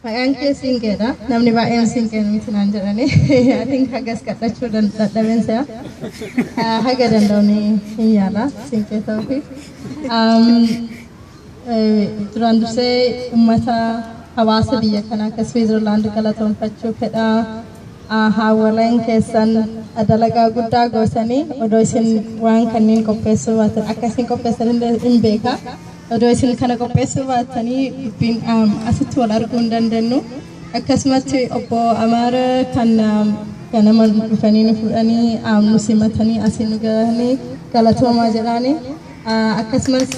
Maqaan kee Siinqeedha. Namni baay'een Siinqee nuti naan jedhani. I think hagas kadhachuu dan- dadhabeen se'a. Ah, Haga danda'u ni hin yaala Siinqee ta'uufi. Um, eh, Duraan dursee uummata hawaasa biyya kanaa akka Swiizerlaand galatoomfachuu fedha. Aahaa walain keessan dalagaa guddaa gootani odoo isin waan kanniin qopheessuu baatan akka isin qopheessan illee hin beeka odoo isin kana qopheessuu baatanii dubbiin um, asitti wal arguu hin dandennu akkasumatti obbo Amaara kan um, ganama dhufanii nu fudhanii um, nu simatanii asiin nu gahanii galatoomaa jedhaanii Akkasumas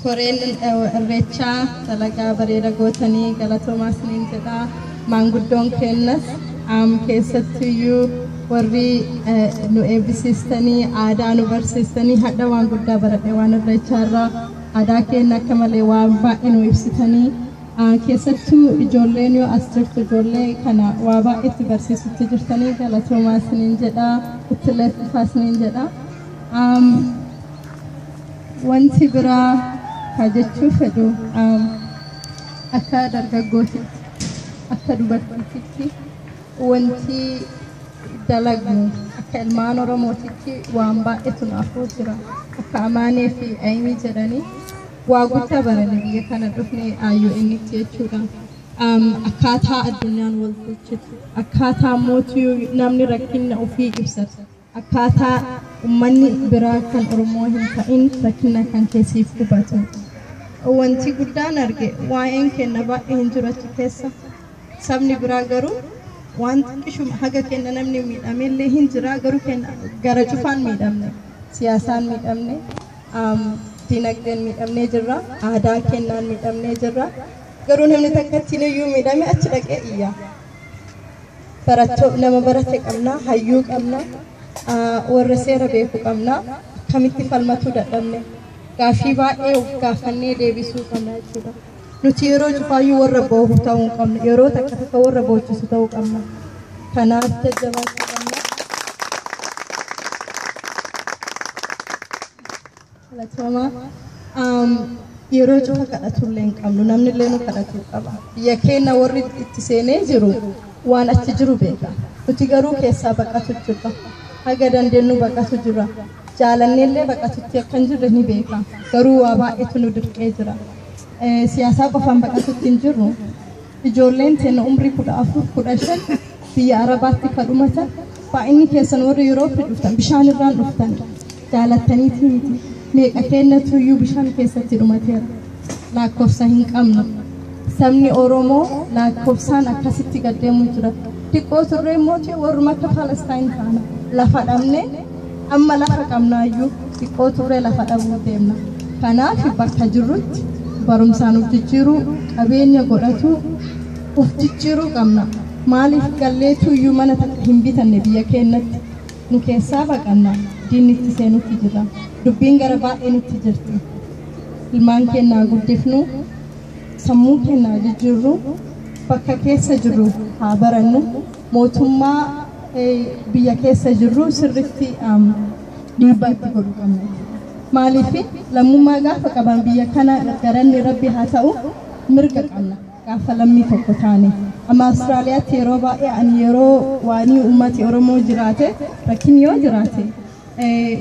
koreen irreechaa dalagaa bareeda gootanii galatoomaa isiniin jedhaa maanguddoon keennas keessattuyyuu warri nu eebbisiistanii aadaa nu barsiistanii hadha waan guddaa baradhe waan irreechaarraa aadaa keenya akka malee waan baay'ee nu ibsitanii Keessattuu ijoolleen yoo as jirtu ijoollee kana waa baay'ee itti barsiisutti jirtanii galatoomaa isiniin jedha ittillee fufaa isiniin jedha. Um, wanti biraa haa jechuu fedhu um, akka dargaggootitti akka dubartiitti wanti dalagnu akka ilmaan oromootitti waan baay'eetu nu afuu jira akka amaanee fi ayimii jedhanii Waa guddaa baranne biyya kana dhufne IONtti jechuudha. Um, akkaataa addunyaan wal tolchitu, akkaataa mootu namni rakkinna ofii ibsatu, akkaataa ummanni biraa kan Oromoo hin ta'in rakkinna kan keessiif hubatu. Wanti guddaan arge waa'een kenna baay'ee hin jiratu keessa. Sabni biraa garuu waan xiqqishuma haga kenna namni miidhamellee hin jira garuu kenna gara cufaan miidhamne siyaasaan miidhamne Am, Dinagdeen miidhamnee jirra. Aadaa kennaan miidhamnee jirra. Garuu namni takkattiin iyyuu miidhame achi dhaqee iyya. Baratto, nama barate qabna, hayyuu qabna, ah, warra seera beeku qabna. Akkamitti falmatuu dadhabne? Gaaffii baay'ee of gaafannee deebisuu qabna jechuudha. Nuti yeroo cufaayyuu warra boohu ta'uu hin qabnu. Yeroo takka takka warra boochisu ta'uu qabna. Kanaaf jajjabaachuu qabna. Galatooma. Um, yeroo cufa kadhatullee hin qabnu. Namni illee nu kadhatuu qaba. Biyya keenya warri itti seenee jiru waan achi jiru beeka. Nuti garuu keessaa baqatu jirra. Haga dandeenyu baqatu jirra. Jaalannee illee baqatutti akka hin jirre ni beeka. Garuu waa baay'eetu nu dirqee jira. siyaasaa qofaan baqatutti hin jirru. Ijoolleen teenna umrii kudha afur kudha shan biyya Arabaatti ka dhumatan baay'inni keessan warri Yurooppii dhuftan bishaan irraan dhuftan jaalattaniiti miti. Meeqa keenna tuyyuu bishaan keessatti dhumateera. Lakkoofsa hin qabnu. Sabni Oromoo lakkoofsaan akkasitti gaddeemu jira. Xiqqoo turree immoo warruma akka Palestaayin taana lafa dhabnee Amma lafa qabnaayyuu xiqqoo tuure lafa dhabuuf deemna. Kanaaf bakka jirrutti barumsaan uf jijjiiruu, qabeenya godhatuu, uf jijjiiruu qabna. Maaliif galleetuuyyuu mana takka hin bitanne biyya keennatti? Nu keessaa baqanna. Diinni itti seenutti jirra. Dubbiin gara baay'ee nutti jirti. Ilmaan keenna haa guddifnu, sammuu keenna haa jijjiirru, bakka keessa jirru haa barannu. mootummaa biyya keessa jirru sirritti dhiibbaa itti godhu qabna jechuudha. Maaliif lammummaa gaafa qaban biyya kana galanni rabbi haa ta'u mirga qabna gaafa lammii tokko taane. Amma Awustiraaliyaatti yeroo baay'ee ani yeroo waanii uummati Oromoo jiraate rakkin yoo jiraate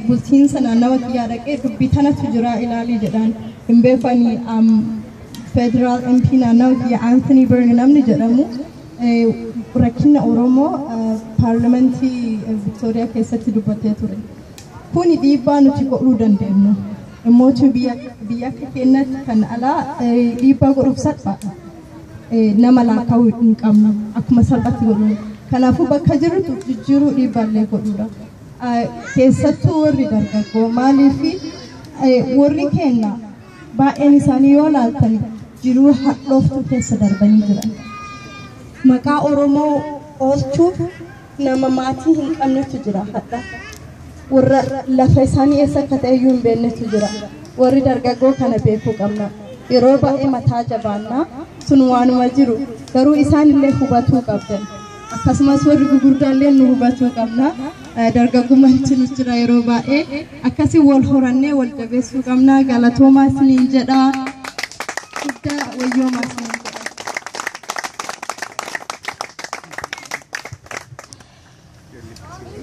bulchiinsa naannawa kiyyaa dhaqee dubbii tanatu jira ilaalii jedhaan hin beeku ani federaal MP naannawa kiyya Anthony Byrne namni jedhamu Rakkinna Oromoo paarlamentii Victoria keessatti dubbatee ture. Kuni dhiibbaa nuti godhuu dandeenyu. Immootu biyya biyya akka keenyatti kan alaa eh, dhiibbaa godhuuf salphaadha. Eh, Nama laakkaa'uu hin qabnu akkuma salphatti godhu. Kanaafuu bakka jirrutu jijjiiruu dhiibbaallee godhuudha. Eh, Keessattuu warri dargaggoo maaliifi eh, warri keenya Baay'een isaanii yoo laaltani jiruu hadhooftuu keessa darbanii jiran. Maqaa Oromoo oolchuuf nama maatii hin qabnetu jira hadha. Warra lafa isaanii eessa akka ta'e iyyuu hin beeknetu jira. Warri dargaggoo kana beekuu qabna. Yeroo baay'ee mataa jabaannaa sun waanuma jiru garuu isaan illee hubatuu qabdan. akkasumas warri gugurdaallee nu hubachuu qabna. Eh, Dargaggummaan itti nu jira yeroo baay'ee akkasii wal horannee wal jabeessuu qabna. Galatoomaa isiniin jedha. Guddaa wayyoomaa isiniin jedha.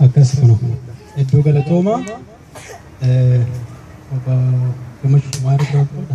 akkas kana iddoo galatoomaa eh, obbo Gammachuu Maarii Biraakoodha.